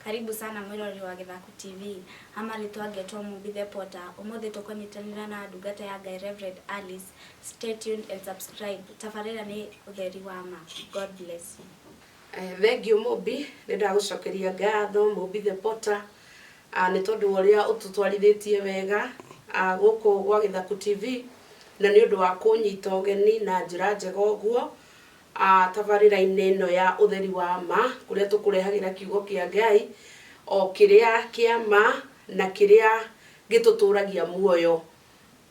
Karibu sana mwĩroreri wa Gĩthaku TV, ha marĩtwa ngetwo Mũmbi The Potter, ũmũthĩ tũkũnyitanĩra na ndungata ya Ngai Rev. Alice, stay tuned and subscribe, tabarĩra nĩ ũtheri wa ma, God bless you. Thengiũ Mũmbi, nĩ ndagũcokeria ngatho Mũmbi The Potter, nĩ tondũ wa ũrĩa ũtũtwarithĩtie wega gũkũ gwa Gĩthaku TV, na nĩ ũndũ wa kũnyita ũgeni na njĩra njega ũguo, A tabarĩra-inĩ ĩno ya ũtheri wa ma, kũrĩa tũkũrehagĩra kiugo kĩa Ngai, o kĩrĩa kĩa ma na kĩrĩa gĩtũtũragia muoyo.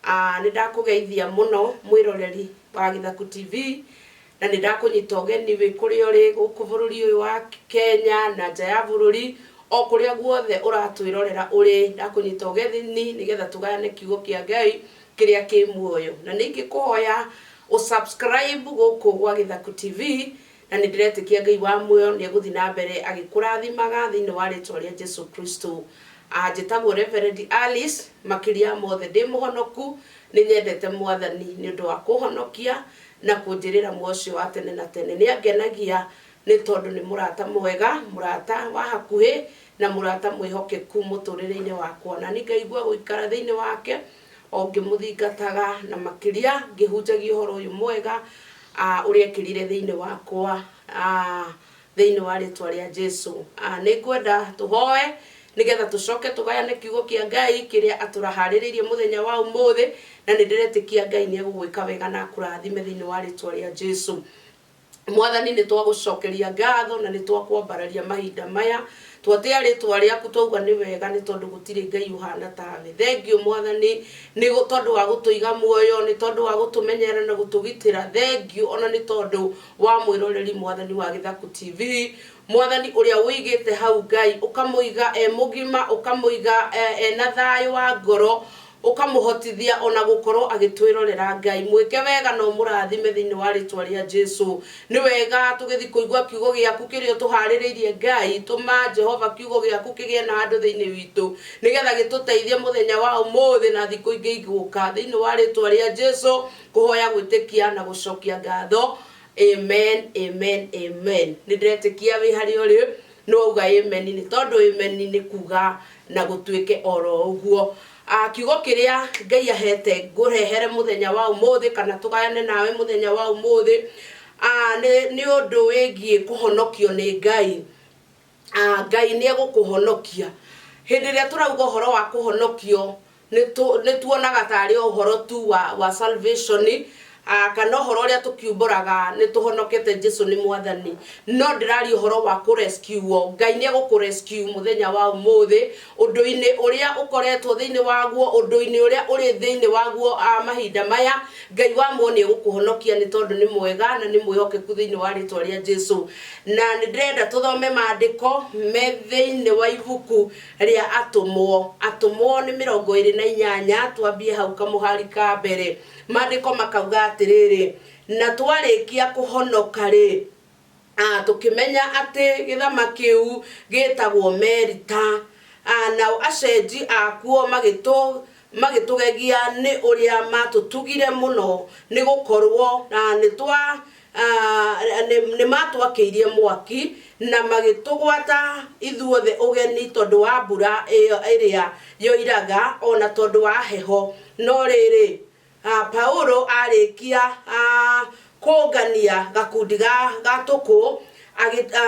A nĩ ndakũgeithia mũno mwĩroreri wa Gĩthaku TV, na nĩ ndakũnyita ũgeni wĩ kũrĩa ũrĩ gũkũ bũrũri ũyũ wa Kenya na nja ya bũrũri, o kũrĩa guothe ũratwĩrorera ũrĩ, ndakũnyita ũgeni nĩgetha tũgayane kiugo kĩa Ngai, kĩrĩa kĩ muoyo na nĩingĩkũhoya ũ subscribe gũkũ gwa Gĩthaku TV na nĩndĩretĩkia Ngai wa muoyo nĩegũthiĩ na mbere agĩkũrathimaga thĩinĩ wa rĩtwa rĩa Jesu Kristo. Ah, Njĩtagwo Reverend Alice, makĩria ya mothe ndĩ mũhonoku, nĩnyendete mwathani nĩ ũndũ wa kũhonokia na kũnjĩrĩra muoyo ũcio wa tene na tene. Nĩangenagia Nĩ tondũ nĩ mũrata mwega, mũrata wa hakuhĩ, na mũrata mwĩhokeku mũtũũrĩre-inĩ wakwa. Na niĩ ngaigua gũikara thĩinĩ wake, o ngĩmũthingataga, na makĩria ngĩhunjagia ũhoro ũyũ mwega ũrĩa ekĩrire thĩinĩ wakwa, thĩinĩ wa rĩtwa rĩa Jesu. Nĩ ngwenda tũhoe nĩgetha tũcoke tũgayane kiugo kĩa Ngai kĩrĩa atũharĩrĩirie mũthenya wa ũmũthĩ, na nĩ ndĩretĩkia Ngai nĩ egũgwĩka wega na akũrathime thĩinĩ wa rĩtwa rĩa Jesu. Mwathani, nĩ twagũcokeria ngatho na nĩ twakwambararia mahinda maya. Twatĩa rĩtwa rĩaku twauga nĩ wega nĩ tondũ gũtirĩ Ngai ũhana tawe. Thengiũ Mwathani nĩ tondũ wa gũtũiga muoyo, nĩ tondũ wa gũtũmenyerera na gũtũgitĩra. Thengiũ ona nĩ tondũ wa mwĩroreri Mwathani wa Gĩthaku TV. Mwathani ũrĩa ũigĩte hau Ngai, ũkamũiga e mũgima, ũkamũiga e na thayũ wa ngoro, ũkamũhotithia ona gũkorwo agĩtwĩrorera. Ngai mwĩke wega na ũmũrathime thĩinĩ wa rĩtwa rĩa Jesu. Nĩ wega tũgĩthiĩ kũigua kiugo gĩaku kĩrĩa ũtũharĩrĩirie Ngai. Tũma Jehova kiugo gĩaku kĩgĩe na handũ thĩinĩ witũ nĩgetha gĩtũteithie mũthenya wa ũmũthĩ na thikũ ingĩ igũka. Thĩinĩ wa rĩtwa rĩa Jesu ngũhoya gwĩtĩkia na gũcokia ngatho. Amen, Amen, Amen. Nĩ ndĩretĩkia wĩ harĩa ũrĩ. Nũ wauga Ameni? Nĩ tondũ Ameni nĩ kuuga na gũtuĩke o ro ũguo. Kiugo kĩrĩa Ngai aheete ngũrehere mũthenya wa ũmũthĩ kana tũgayane nawe mũthenya wa ũmũthĩ, nĩ ũndũ wĩgiĩ kũhonokio nĩ Ngai. Ngai nĩ egũkũhonokia. Hĩndĩ ĩrĩa tũrauga ũhoro wa kũhonokio, nĩ tuonaga ta arĩ o ũhoro tu wa, wa salvation, ah, kana ũhoro ũrĩa tũkiumbũraga nĩ tũhonokete Jesu nĩ mwathani. No ndĩraria ũhoro wa kũ rescue wo. Ngai nĩ egũkũ rescue mũthenya wa ũmũthĩ, ũndũ-inĩ ũrĩa ũkoretwo thĩinĩ waguo, ũndũ-inĩ ũrĩa ũrĩ thĩinĩ waguo ah, mahinda maya. Ngai wa muoyo nĩ egũkũhonokia nĩ tondũ nĩ mwega na nĩ mwĩhokeku thĩinĩ wa rĩtwa rĩa Jesu. Na nĩ ndĩrenda tũthome maandĩko me thĩinĩ wa ibuku rĩa atũmwo. Atũmwo nĩ mĩrongo ĩrĩ na inyanya, twambie hau kamũhari ka mbere. Maandĩko makauga atĩrĩrĩ, Na twarĩkia kũhonoka-rĩ, a tũkĩmenya atĩ gĩthama kĩu gĩĩtagwo Merita, a nao acenji akuo magĩtũ magĩtũgegia nĩ ũrĩa maatũtugire mũno, nĩ gũkorwo a nĩtwa a, nĩ, nĩ maatwakĩirie mwaki, na magĩtũgwata ithuothe ũgeni tondũ wa mbura ĩyo ĩrĩa yoiraga, o na tondũ wa heho. No rĩrĩ, a, Paulo aarĩkia a, kũũngania gakundi ga, ga tũkũ, agĩ, a,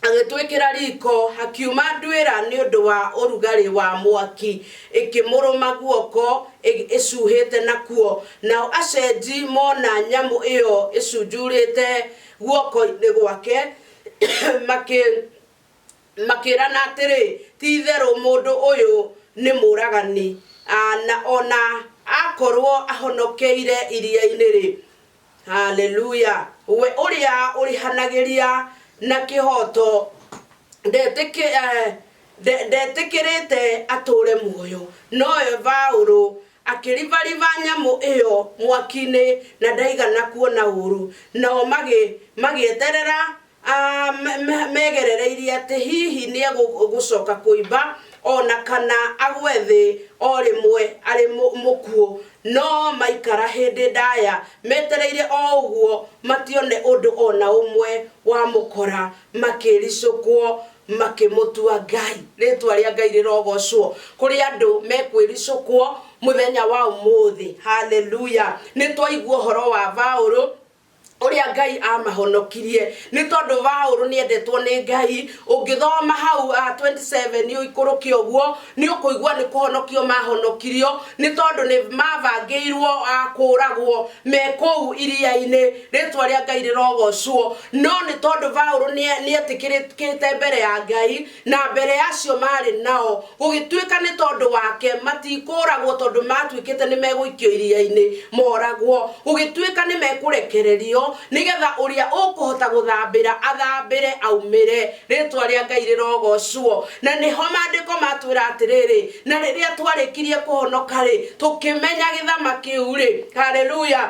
agĩtwĩkĩra riko hakiuma ndwĩra nĩ ũndũ wa ũrugarĩ wa mwaki ĩkĩmũrũma guoko ĩ- ĩcuhĩte nakuo nao acenji mona nyamũ ĩyo ĩcunjurĩte guoko-inĩ gwake makĩ makĩrana atĩrĩ ti itherũ mũndũ ũyũ nĩ mũragani Ah, na ona akorwo ahonokeire iria-inĩ rĩ Haleluya! We ũrĩa ũrĩhanagĩria na kĩhoto ndetĩkĩ- eh, nde- ndetĩkĩrĩte atũũre muoyo. Nowe Paũlũ akĩribariba nyamũ ĩyo mwaki-inĩ na ndaigana kuona ũũru. Nao magĩ- magĩeterera A, me- me- megerereirie atĩ hihi nĩ egũcoka kũimba o na kana agwe thĩ o rĩmwe arĩ mũ- mũkuũ no maikara hĩndĩ ndaya metereire o ũguo matione ũndũ o na ũmwe wamũkora makĩricũkwo makĩmũtua ngai rĩtwa rĩa ngai rĩrogocwo kũrĩ andũ mekwĩricũkwo mũthenya wa ũmũthĩ haleluya nĩ twaigua ũhoro wa vaũrũ ũrĩa ngai amahonokirie nĩ tondũ vaũrũ nĩ endetwo nĩ ngai ũngĩthoma hau uh, 27 ũikũrũke ũguo nĩ ũkũigua nĩ kũhonokio mahonokirio nĩ tondũ nĩ mabangĩirwo uh, kũũragwo me kũu iria-inĩ rĩtwa rĩa ngai rĩrogocwo no nĩ tondũ vaũrũ nĩ etĩkĩrĩkĩte mbere ya ngai Na mbere ya acio maarĩ nao, gũgĩtuĩka nĩ tondũ wake matikũũragwo tondũ maatuĩkĩte nĩ megũikio iria-inĩ mooragwo, gũgĩtuĩka nĩ mekũrekererio, nĩ getha ũrĩa ũkũhota gũthambĩra athambĩre aumĩre, rĩĩtwa rĩa Ngai rĩrogoocwo. Na nĩho Maandĩko matwĩra atĩrĩrĩ, Na rĩrĩa twarĩkirie kũhonoka-rĩ, tũkĩmenya gĩthama kĩu-rĩ, Haleluya!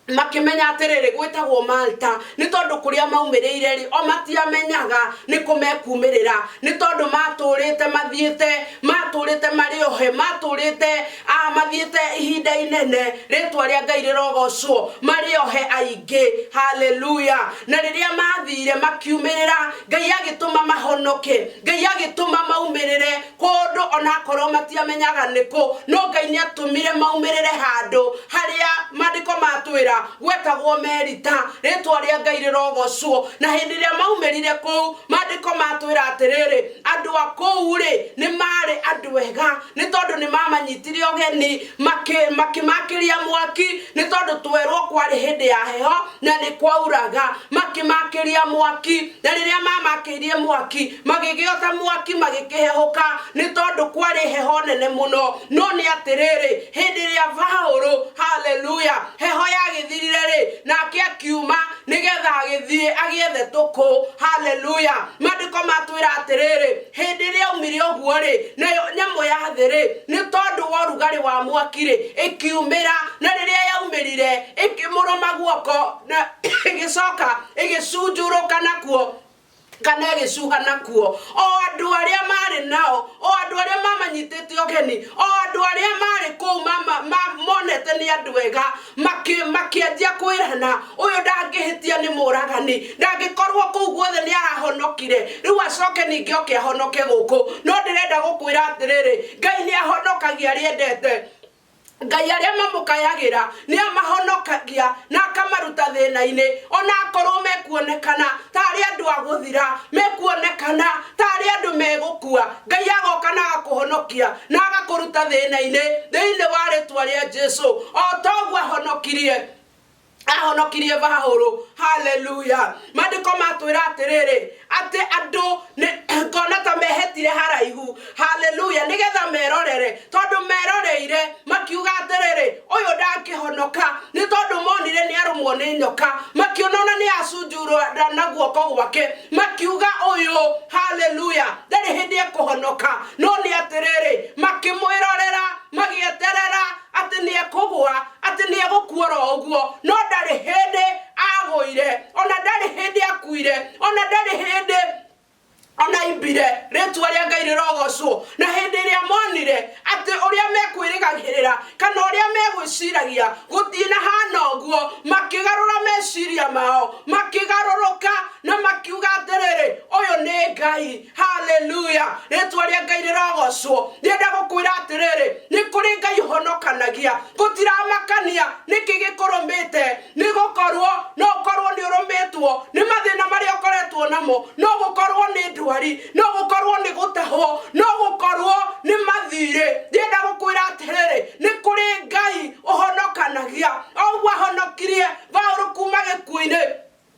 makĩmenya atĩrĩrĩ gwĩtagwo malta nĩ tondũ kũrĩa maumĩrĩire rĩ o matiamenyaga nĩ kũ mekumĩrĩra nĩ tondũ matũrĩte mathiĩte matũrĩte marĩ ohe matũrĩte ah, mathiĩte ihinda inene rĩtwa rĩa ngai rĩrogocwo marĩ ohe aingĩ haleluya na rĩrĩa mathire makiumĩrĩra ngai agĩtũma mahonoke ngai agĩtũma maumĩrĩre kũndũ onakorwo matiamenyaga nĩkũ no ngai nĩ atũmire maumĩrĩre handũ harĩa maandĩko matwĩra gwetagwo merita rĩtwa rĩa ngai rĩrogocwo na hĩndĩ ĩrĩa maumĩrire kũu maandĩko matwĩra atĩrĩrĩ andũ a kũu rĩ nĩ marĩ andũ ega nĩ tondũ nĩ mamanyitire ũgeni makĩmakĩria mwaki nĩ tondũ twerwo kwarĩ hĩndĩ ya heho na nĩ kwauraga makĩmakĩria mwaki na rĩrĩa mamakĩirie mwaki magĩgĩoca mwaki magĩkĩhehũka nĩ tondũ kwarĩ heho nene mũno no nĩ atĩrĩrĩ hĩndĩ ĩrĩa Paũlũ haleluya heho yagĩthirire rĩ nake akiuma nĩgetha agĩthiĩ agĩethe tũkũ haleluya maandĩko matwĩra atĩrĩrĩ Hĩndĩ ĩrĩa aumire ũguo-rĩ, nayo nyamũ ya thĩ-rĩ, nĩ tondũ wa ũrugarĩ wa mwaki-rĩ, ĩkiumĩra, na rĩrĩa yaumĩrire, ĩkĩmũrũma guoko, na ĩgĩcoka ĩgĩcunjũrũka nakuo, kana ĩgĩcuha nakuo, o andũ arĩa maarĩ nao, o andũ arĩa mamanyitĩte ũgeni, o andũ arĩa maarĩ kũu monete nĩ andũ ega, Makĩ- makĩanjia kwĩrana ũyũ ndangĩhĩtia nĩ mũragani ndangĩkorwo kũu guothe nĩ arahonokire rĩu acoke ningĩ oke ahonoke gũkũ no ndĩrenda gũkwĩra atĩrĩrĩ ngai nĩ ahonokagia arĩa endete ngai arĩa mamũkayagĩra nĩ amahonokagia na akamaruta thĩna-inĩ ona akorwo mekuonekana ta arĩ andũ a gũthira mekuonekana Ta arĩ andũ megũkua, Ngai agoka na agakũhonokia, na agakũruta thĩna-inĩ thĩinĩ wa rĩtwa rĩa Jesu, o ta ũguo ahonokirie ahonokirie Baũrũ. Haleluya! Maandĩko matwĩra atĩrĩrĩ, atĩ andũ nĩ ngona ta mehetire haraihu. Haleluya! Nĩgetha merorere, tondũ meroreire makiuga atĩrĩrĩ, ũyũ ndangĩhonoka nĩ tondũ monire nĩ arũmwo nĩ nyoka makĩona ona nĩ acunjurwo nda na guoko gwake makiuga ũyũ haleluya ndarĩ hĩndĩ ekũhonoka no nĩ atĩrĩrĩ makĩmwĩrorera magĩeterera atĩ nĩ ekũgwa atĩ nĩ egũkuora ũguo no ndarĩ hĩndĩ agũire ona ndarĩ hĩndĩ akuire ona ndarĩ hĩndĩ onaimbire rĩtua rĩa ngai rĩrogocwo na hĩndĩ ĩrĩa monire atĩ ũrĩa mekwĩrĩgagĩrĩra kana ũrĩa megwĩciragia gũthiĩ na hana ũguo makĩgarũra meciria mao makĩgarũrũka na makiuga atĩrĩrĩ ũyũ nĩ ngai haleluya rĩtwa rĩa ngai rĩrogocwo rĩenda gũkwĩra atĩrĩrĩ nĩ kũrĩ ngai ũhonokanagia gũtiramakania nĩkĩ gĩkũrũmĩte Nĩ gũkorũo no ũkorũo nĩ ũrũmĩtwo nĩ mathĩna marĩa ũkoretwo namo, no gũkorũo nĩ ndwari, no gũkorũo nĩ gũtahwo, no gũkorũo nĩ mathirĩ. Ndĩrenda gũkwĩra atĩrĩrĩ, nĩ kũrĩ Ngai ũhonokanagia, o ũguo ahonokirie Paũlũ kuuma gĩkuũ-inĩ.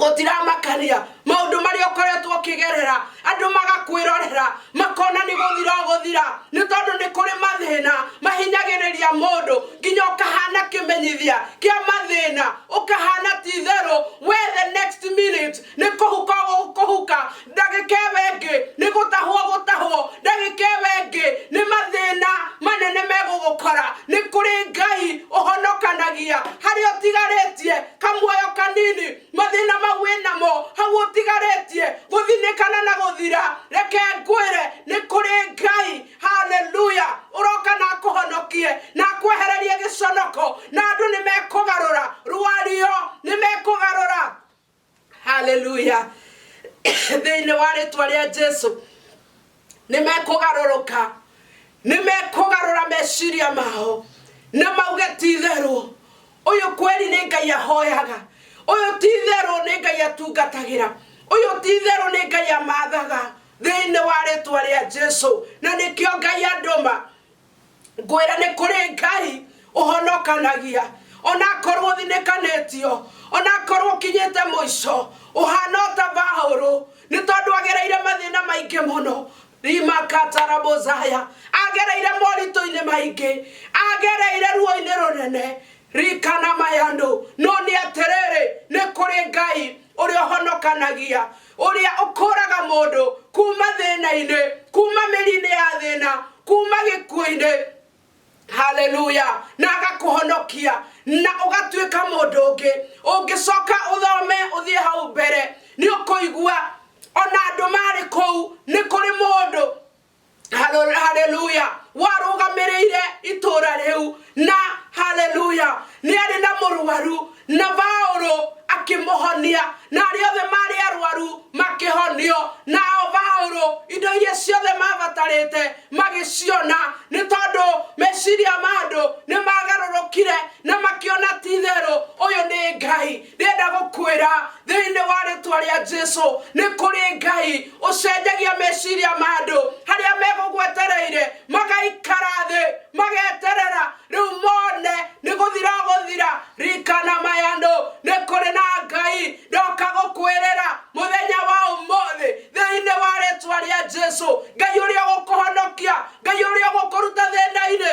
gũtiramakania maũndũ marĩa ũkoretwo ũkĩgerera andũ magakwĩrorera makona nĩ gũthira ũgũthira nĩ tondũ nĩ kũrĩ mathĩna mahinyagĩrĩria mũndũ nginya ũkahana kĩmenyithia kĩa mathĩna ũkahana ti itherũ we the next minute nĩ kũhuka ũkũhuka ndagĩka ĩyo ĩngĩ nĩ gũtahwo gũtahwo ndagĩka ĩyo ĩngĩ nĩ mathĩna manene megũgũkora nĩ kũrĩ ngai ũhonokanagia harĩa ũtigarĩtie kamuoyo kanini mathĩna mau wĩ namo hau ũtigarĩtie gũthinĩkana na gũthira reke ngwĩre nĩ kũrĩ ngai haleluya ũroka na akũhonokie na akwehererie gĩconoko na andũ nĩ mekũgarũra rwario nĩ mekũgarũra haleluya thĩinĩ wa rĩtwa rĩa jesu nĩ mekũgarũrũka nĩ mekũgarũra meciria mao na mauge ti itherũ ũyũ kweri nĩ ngai ahoyaga ũyũ ti itherũ nĩ ngai atungatagĩra ũyũ ti itherũ nĩ ngai amathaga thĩinĩ wa rĩtwa rĩa jesu na nĩkĩo ngai andũma ngwĩra nĩ kũrĩ ngai ũhonokanagia onakorwo ũthinĩkanĩtio onakorwo ũkinyĩte mũico ũhana ota baũrũ nĩ tondũ agereire mathĩna maingĩ mũno rimakatarabothaya agereire moritũ-inĩ maingĩ agereire ruo-inĩ rũnene rikana mayandũ no nĩ atĩrĩrĩ nĩ kũrĩ ngai ũrĩa ũhonokanagia ũrĩa ũkũraga mũndũ kuma thĩna-inĩ kuma mĩri-inĩ ya thĩna kuma gĩkuũ-inĩ haleluya na agakũhonokia na ũgatuĩka mũndũ ũngĩ ũngĩcoka ũthome ũthiĩ hau mbere nĩ ũkũigua ona andũ marĩ kũu nĩ kũrĩ mũndũ Halo- haleluya warũgamĩrĩire itũũra rĩu na haleluya nĩ arĩ na mũrwaru na baũrũ akĩmũhonia na arĩa othe marĩ arwaru makĩhonio nao baũrũ indo iria ciothe mabatarĩte magĩciona nĩ tondũ meciria ma andũ nĩ magarũrũkire na makĩona ti itherũ ũyũ nĩ ngai ndĩrenda gũkwĩra thĩinĩ wa rĩtwa rĩa jesu nĩ kũrĩ ngai ũcenjagia meciria ma andũ harĩa megũgwetereire magaikara thĩ mageterera rĩu mone nĩ gũthira gũthira rikana mayandũ nĩ kũrĩ na ngai ndoka gũkwĩrĩra mũthenya wa ũmũthĩ thĩinĩ wa rĩtwa rĩa jesu ngai ũrĩa ũgũkũhonokia ngai ũrĩa ũgũkũruta thĩna-inĩ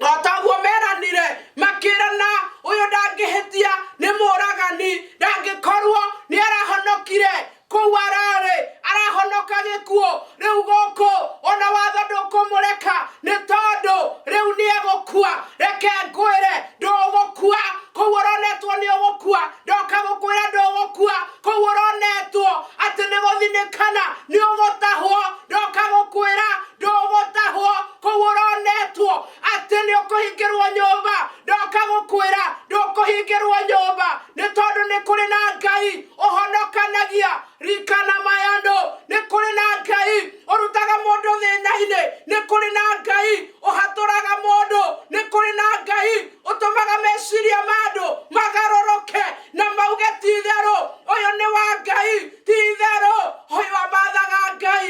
o taguo meranire makĩrana ũyũ ndangĩhĩtia nĩ mũragani ndangĩkorwo nĩ arahonokire kũu ararĩ arahonoka gĩkuũ rĩu gũkũ ona watho ndũkũmũreka nĩ tondũ rĩu nĩ egũkua reke ngwĩre ndũgũkua kũu ũronetwo nĩ ũgũkua ndoka gũkwĩra ndũgũkua kũu ũronetwo atĩ nĩ gũthinĩkana nĩ ũgũtahwo ndoka gũkwĩra ndũgũtahwo kũu ũronetwo atĩ nĩ ũkũhingĩrwo nyũmba ndoka gũkwĩra ndũkũhingĩrwo nyũmba nĩ tondũ nĩ kũrĩ na ngai ũhonokanagia rikana mayandũ nĩ kũrĩ na ngai ũrutaga mũndũ thĩna-inĩ nĩ kũrĩ na ngai ũhatũraga mũndũ nĩ kũrĩ na ngai ũtũmaga meciria ma andũ magarũrũke na mauge ti itherũ ũyũ nĩ wa ngai ti itherũ ũyũ amathaga ngai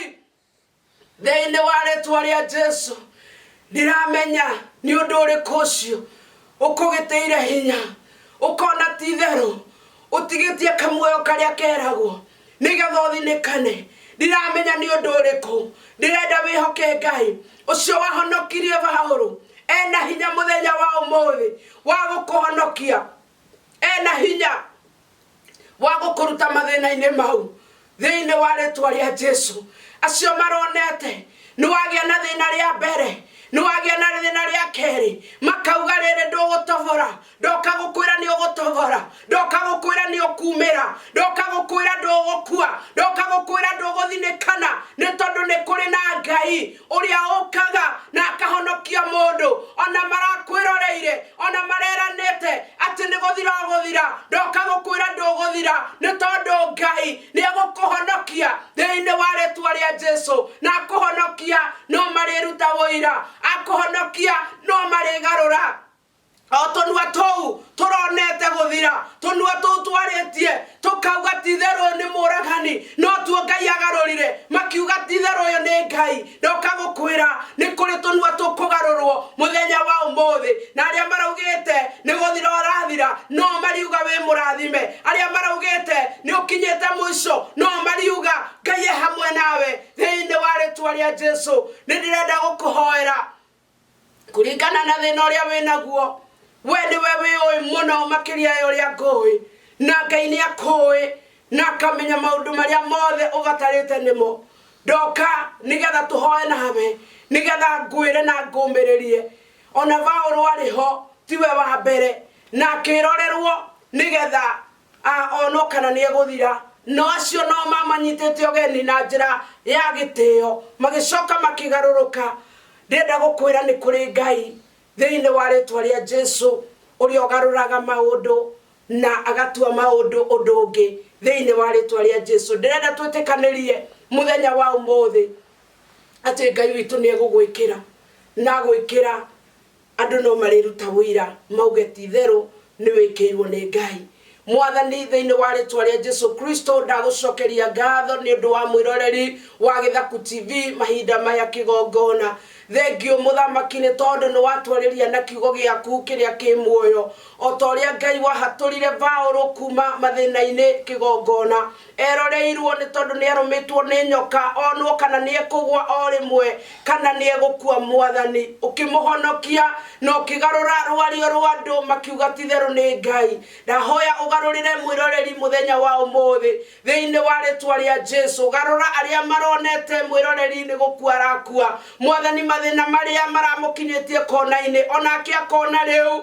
thĩinĩ wa rĩtwa rĩa jesu ndiramenya nĩ ũndũ ũrĩkũ ũcio ũkũgĩteire hinya ũkona ti itherũ ũtigĩtie kamuoyo karĩa keragwo nĩgetha ũthinĩkane ndiramenya nĩ ũndũ ũrĩkũ ndĩrenda wĩhoke ngai ũcio wahonokirie baũrũ ena hinya mũthenya wa ũmũthĩ wa gũkũhonokia ena hinya wa gũkũruta mathĩna-inĩ mau thĩinĩ wa rĩtwa rĩa jesu acio maronete nĩ wagĩa na thĩna rĩa mbere nĩ wagĩa na thĩna rĩa kerĩ makauga rĩrĩ ndũgũtobora ndoka gũkwĩra nĩ ũgũtobora ndoka gũkwĩra nĩ ũkumĩra ndoka gũkwĩra ndũgũkua ndoka gũkwĩra ndũgũthinĩkana nĩ tondũ nĩ kũrĩ na ngai ũrĩa ũkaga na akahonokia mũndũ ona marakwĩroreire ona mareranĩte atĩ nĩ gũthira ũgũthira ndoka gũkwĩra ndũgũthira nĩ tondũ ngai nĩ egũkũhonokia thĩinĩ wa rĩtwa rĩa jesu na akũhonokia no marĩruta ũira akũhonokia no marĩgarũra O tũnua tũu tũronete gũthira, tũnua tũu twarĩtie tũkauga ti-itherũ ũyũ nĩ mũragani, no tuo Ngai agarũrire makiuga ti-itherũ ũyũ nĩ Ngai. Ndoka gũkwĩra nĩ kũrĩ tũnua tũkũgarũrwo mũthenya wa ũmũthĩ, na arĩa maraugĩte nĩ gũthira ũrathira no mariuga wĩ mũrathime, arĩa maraugĩte nĩ ũkinyĩte mũico no mariuga Ngai e hamwe nawe thĩinĩ wa rĩtwa rĩa Jesu. Nĩ ndĩrenda gũkũhoera kũringana na thĩna ũrĩa wĩ naguo we nĩwe wĩũĩ mũno makĩria ya ũrĩa ngũĩ na ngai nĩ akũĩ na akamenya maũndũ marĩa mothe ũbatarĩte nĩmo ndoka nĩgetha tũhoe nawe nĩgetha ngwĩre na ngũmĩrĩrie ona vaũrũ arĩ ho tiwe wa mbere na akĩrorerwo nĩgetha a o no kana nĩ egũthira. No acio no mamanyitĩte ũgeni na njĩra ya gĩtĩo, magĩcoka makĩgarũrũka. Ndĩrenda gũkwĩra nĩ kũrĩ Ngai thĩinĩ wa rĩtwa rĩa Jesu ũrĩa ũgarũraga maũndũ na agatua maũndũ ũndũ ũngĩ thĩinĩ wa rĩtwa rĩa Jesu. Ndĩrenda twĩtĩkanĩrie mũthenya wa ũmũthĩ atĩ Ngai witũ nĩ egũgwĩkĩra na gwĩkĩra Andũ no marĩruta ũira, mauge, Ti-itherũ nĩwĩkĩirwo nĩ Ngai. Mwathani, thĩinĩ wa rĩtwa rĩa Jesu Kristo, ndagũcokeria ngatho nĩ ũndũ wa mwĩroreri wa Gĩthaku TV mahinda maya kĩgongona. Thengiũ, Mũthamaki, nĩ tondũ nĩwatwarĩria na kiugo gĩaku kĩrĩa kĩ muoyo, o ta ũrĩa Ngai wahatũrire Baũrũ kuuma mathĩna-inĩ kĩgongona. Eroreirwo nĩ tondũ nĩarũmĩtwo nĩ nyoka onwo kana nĩekũgwa o rĩmwe kana nĩegũkua Mwathani ũkĩmũhonokia na ũkĩgarũra rwario rwa andũ makiuga titherũ nĩ Ngai ndahoya ũgarũrĩre mwĩroreri mũthenya wa ũmũthĩ thĩinĩ wa rĩtwa rĩa Jesu garũra arĩa maronete mwĩroreri nĩ gũkua arakua Mwathani mathĩna marĩa maramũkinyĩtie konainĩ onake akona rĩu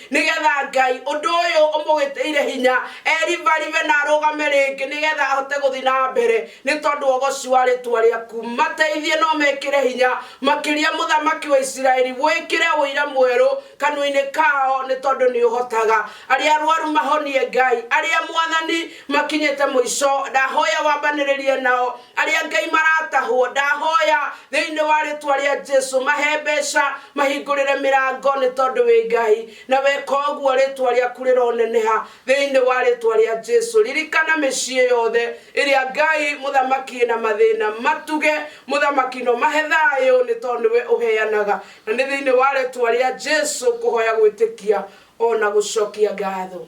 nĩgetha ngai ũndũ ũyũ ũmũgĩtĩire hinya erivarive na arũgame rĩngĩ nĩgetha ahote gũthiĩ na mbere nĩ tondũ wa ũgoci wa rĩtwa rĩaku mateithie no mekĩre hinya makĩria mũthamaki wa isiraeli wĩkĩre ũira mwerũ kanua-inĩ kao nĩ tondũ nĩ ũhotaga arĩa arwaru mahonie ngai arĩa mwathani makinyĩte mũico ndahoya wambanĩrĩrie nao arĩa ngai maratahwo ndahoya thĩinĩ wa rĩtwa rĩa jesu mahe mbeca mahingũrĩre mĩrango nĩ tondũ wĩ ngai na weka ũguo rĩtwa rĩaku rĩroneneha thĩinĩ wa rĩtwa rĩa jesu ririkana mĩciĩ yothe ĩrĩa ngai mũthamaki na mathĩna matuge mũthamaki no mahe thayũ nĩ tondũ nĩwe ũheanaga na nĩ thĩinĩ wa rĩtwa rĩa jesu kũhoya gwĩtĩkia ona gũcokia ngatho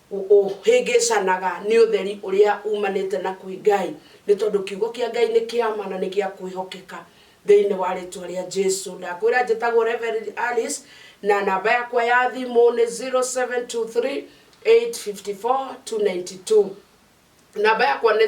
Ũhĩngĩcanaga nĩ ũtheri ũrĩa umanĩte na kwĩ Ngai, nĩ tondũ kiugo kĩa Ngai nĩ kĩa ma na nĩ gĩa kwĩhokeka. Thĩinĩ wa rĩtwa rĩa Jesu. Ndakwĩra njĩtagwo Reverend Alice na namba yakwa ya thimũ nĩ 0723 854 292. namba yakwa nĩ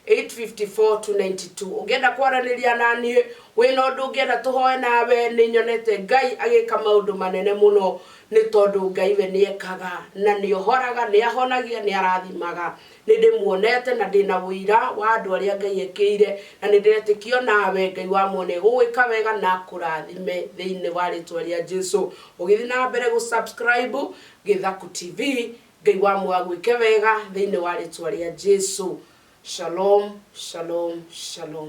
0723854292 ũngĩenda kwaranĩria na niĩ wĩna ũndũ ũngĩenda tũhoe nawe nĩ nyonete ngai agĩka maũndũ manene mũno nĩ tondũ ngai we nĩ ekaga na nĩ ohoraga nĩ ahonagia nĩ arathimaga nĩ ndĩmuonete na ndĩna ũira wa andũ arĩa ngai ekĩire na nĩ ndĩretĩkio nawe ngai wa mwene gũgwĩka wega na kũrathime thĩinĩ wa rĩtwa rĩa jesu ũgĩthiĩ na mbere gũ subscribe gĩthaku tv Ngai wa mũoyo agwĩke wega thĩinĩ wa rĩtwa rĩa Jesu. Shalom, shalom, shalom.